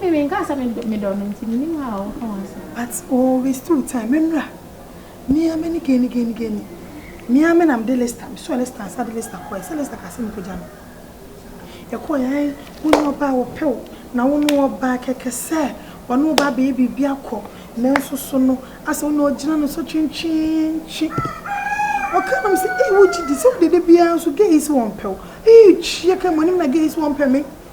Me menkaa sɛ me dɔ no nti menim how a woka ho asɛm. But o waste wo time me mmra me ara m'ani gani gani gani me ara me na mede Lester me sɔɔ Lester ansa de Lester kɔɛ sɛ Lester kaa sɛ me kɔgya no yɛkɔɔ yɛ ae wo ne ɔbaa wɔpɛ wo na wo ne ɔbaa kɛkɛ sɛ ɔne wo ba abɛyɛ biribi akɔ nanso so no asɛ wo ne ɔgyina no so twentwentwe ɔka nom sɛ ee wogye di sɛ wode de biara nso gay sɛ wɔmpɛ wo ee kyia ka mu anim na gay sɛ wɔmpɛ me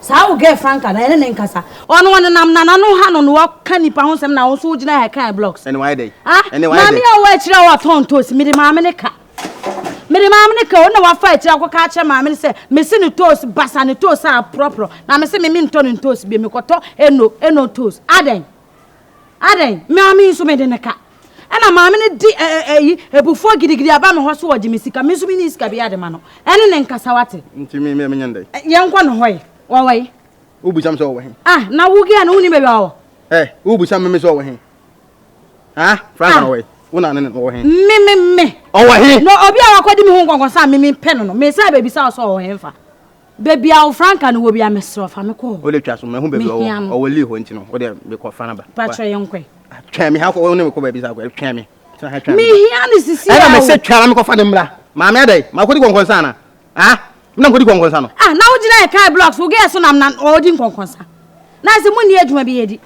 Saa wo girl Franca no yɛne ne nkasa ɔno ɔnenam nana no ha no na waka nipa ho nsɛm na wo nso wogyina ha kan blogs. Ɛne wayɛ dɛn? Ah, Ɛne wayɛ maame dɛn? a ɔwɔ akyire a ɔtɔn ntoos mede maame ne ka. Mede maame ne ka o na wafa akyire akɔka akyerɛ maame ne sɛ mese ne toos basa ne toos a aporɔporɔ na mese me mentɔ ne ntoos bio mekɔtɔ eno eno toos adɛn? Adɛn, me ara me nso mede no ka. Ɛna maame no de ɛ ɛ ɛyi abufuo gidigidi aba me hɔ so ɔgye me sika, me nso menni sika biara de ma no. Ɛne ne nkasa wate. Nti me me menyɛ no dɛn? Ɛ yɛnkɔ ne hɔ ɛ, ɔwɔ he? Wobisa me sɛ ɔwɔ he? Ah, na wo girl no wonnim baabi a ɔwɔ? Ɛ, wobisa me me sɛ ɔwɔ he? Ha? Frank na ɔwɔ he? Wo na ne no ɔwɔ he? Me me me. Ɔwɔ he? Na obi a wakɔdi me ho nkɔnkɔnsa a me mempɛ no no, mesan bɛbisa wo sɛ ɔwɔ he mfa. Baabi a wo franka no wɔ bi a mesrɛ ɔfa me kɔ hɔ. Wode twa so mahu baabi ɔwɔ. Mehia no. Ɔwɔ Lee hɔ nti no wode mekɔ fa no ba. Patrɔ yɛ nkɔe. Twɛn me ha kɔ ne mekɔ baabi sa kɔ twɛn me. Tena ha twɛn me. Mehia no sisi a o. Ɛna mese twɛn na mekɔ fa ne mmra. Maame adai ma kɔdi kɔnkɔnsa ana? Ah na kɔdi kɔnkɔnsa no. Ah na wo gyina yɛ kaa blocks wo gɛɛ so nam na ɔdi nkɔnkɔnsa. Na ɛsɛ mo nni adwuma bi yɛ di.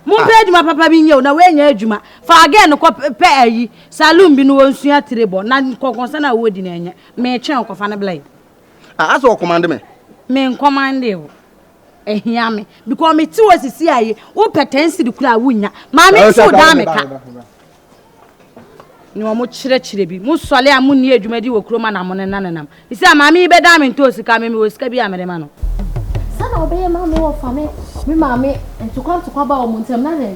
Mo mpɛ adwuma papa bi nyɛ o na wɛnyɛ adwuma. Fa gɛɛ no kɔ pɛ ayi saloon bi no wɔnsua tire bɔ na nkɔnkɔnsa na wɔdi na ɛnyɛ. Me twɛn o kɔfa ne bla yi. Ah asɛ o commande me. Me ncommande o. Ɛhia me because me ti o sisi aye wo pɛ ten siri kura wo nya. Maame nsi o daa me ka. Ne ɔmo kyerɛ kyerɛ bi mo sɔle a mo ni adwuma di wɔ kuro ma na mo ne nane nam. Isi a maame yi bɛ daa me nto o sika me me wɔ sika bi a me de ma no. Sa na ɔbɛ yɛ ma me wɔ fa me me maame ntokwa ntokwa ba ɔmo ntem na dɛn.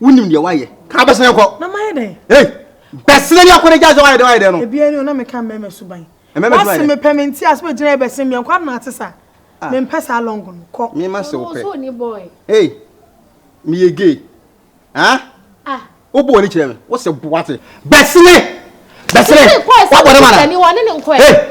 wonim deɛ woayɛ ka bɛsene kɔ na mayɛ dɛn ei bɛsene deɛ kɔne gya sɛ woayɛ dɛn woayɛ dɛn no ebia ni na meka mmɛmɛ so ban wase mepɛ me nti ase bɛgyina ɛbɛsene meɛ nkwa na ate sa mempɛ saa long no kɔ mema se wopɛ ei meyɛ gay ah wobɔ w'ani kyerɛ me wose boate bɛsene bɛsene wabɔ ne mana ei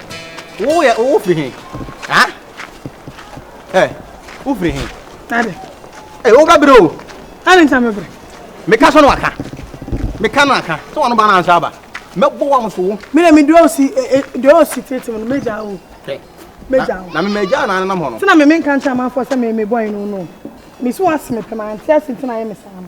Wo yɛ wo firi he? Ha? Ɛ wo firi he? Ade. Ɛ wo bɛbrɛ o. Ade nsa mɛbrɛ. Meka sɛ no aka. Meka no aka. Sɛ wɔn ba no ansa aba. Mɛbɔ wɔn so wo. Me na me dua osi dua osi tete no mɛgya o. Mɛgya o. Na me mɛgya na anenam hɔ no. Sɛ na me menka nkyɛ amanfoɔ sɛ me mebɔ eno no. Mesi wɔn ase mepɛ ma ante ase nti na ayɛ me saa no.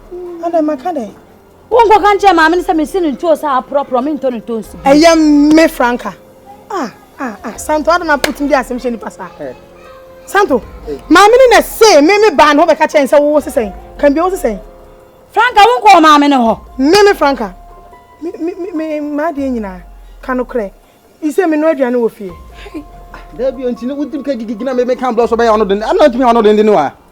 Ada maka dɛ. Wo nkɔ ka nkyerɛ maame no sɛ mesi no ntuo sɛ aporɔporɔ me ntɔ no tonsi bi. Ɛyɛ me franka. Ah ah ah Santo ada na putin di asɛm hyɛ nipa saa. Eh. Santo maame no na se me me baa no bɛka kyɛn sɛ wo sesɛn kan bi wo sesɛn. Franka wo nkɔ maame no hɔ. Me me franka. Me me me ma de nyina ka no korɛ. Ise me no aduane wɔ fie. Dabi ontini wo dim ka gigigina me me kan blɔ so bɛyɛ ɔno den. Ana ntimi ɔno den den wa.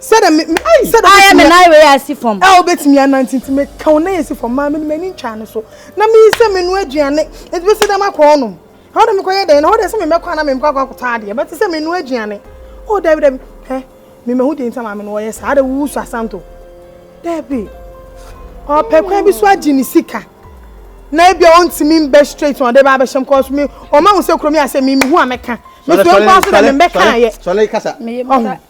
sɛdɛ me me ayi sɛdɛ ɔbɛtumi ayɛ me nan wei asi fam ɛ ɔbɛtumi anante nti me ka ɔnan asi fam maa me no m'ani ntwaa ne so na me sɛ me no aduane nti bɛsi dɛ makɔ ɔnom ɛhɔ dɛ mekɔyɛ dɛn na hɔ dɛ sɛ me mɛkɔ ana me mekɔ akɔ akɔtɔ adeɛ bɛte sɛ me no aduane o dabi dabi ɛ me mahu deɛ nti maa me no ɔyɛ saa adɛ wusu asanto dabi ɔpɛ kwan bi so agye ne sika na ebi a ɔntumi mbɛ straight na ɔde ba abɛhyɛ m kɔɔ so me ɔma ho sɛ kurom yɛ asɛ me mehu a mɛka me so nkɔɔ so dɛ me mbɛka ayɛ ɔho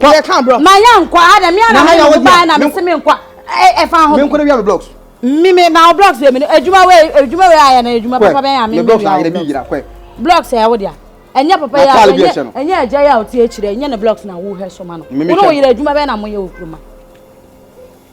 Kɔ. Yɛ kan bro. Ma yɛn nkɔ ha na mi ara mi na mo ba na mi si mi nkɔ ɛ ɛ fa ho. Mi nkɔ na wia mi blocks. Mi mi na o blocks yɛ mi no edwuma wei edwuma wei ayɛ na edwuma papa bɛn a mi mi wia o blocks. Blocks yɛ ɛwɔ dia. Ɛnyɛ papa yɛ a ɛnyɛ ɛnyɛ ɛgya yɛ a o ti ekyirɛ ɛnyɛ ne blocks na wo hɛ so ma no. Wo na o yɛrɛ edwuma bɛn na mo yɛ o kuruma.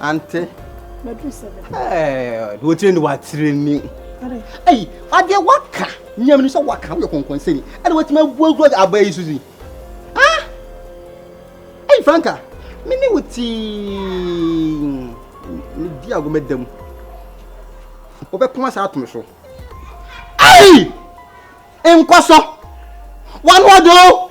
Ante. Madu sɛbɛ. Ɛɛ, wotire ni watire ni. Ayi, adeɛ waka. Nyam ni sɛ waka woyɛ kɔnkɔnsɛni. Ɛna watumi abu agorɔ de aba yi so si. Ah! Ayi Franka, me ne wo tii. Me di ago me dam. Wobɛpoma saa atom so. Ayi! Nkɔsɔ! Wanoɔdoo!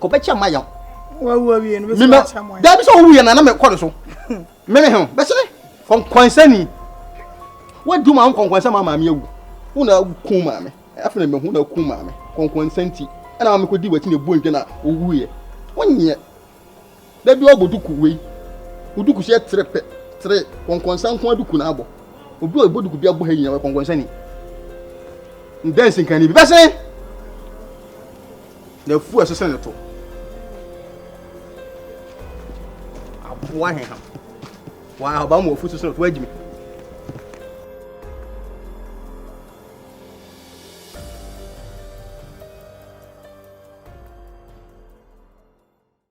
kɔbɛkyɛ ma yɛn mema daa bi sɛ wowu yɛ na na mekɔ ne so meme he bɛsene kɔnkwansani woadu ma wo kɔnkwansa ma maame awu wo na ku maame afei na mahu na ku maame kɔnkwansa nti ɛna ma mekɔdi wakyi na ɛbuo ntwa na owuiɛ wonyɛ Da biara ɔbɔ duku wei wo duku hyɛ tere pɛ tere kɔnkɔnsa nko aduku na abɔ obi ɔbɔ duku bi abɔ ha nyina wɔ kɔnkɔnsa ni ndɛnsi nkan ni bi bɛsen na afu ɛsesɛ ne to aboa he ha wɔn ahoba mu afu sesɛ ne to agyimi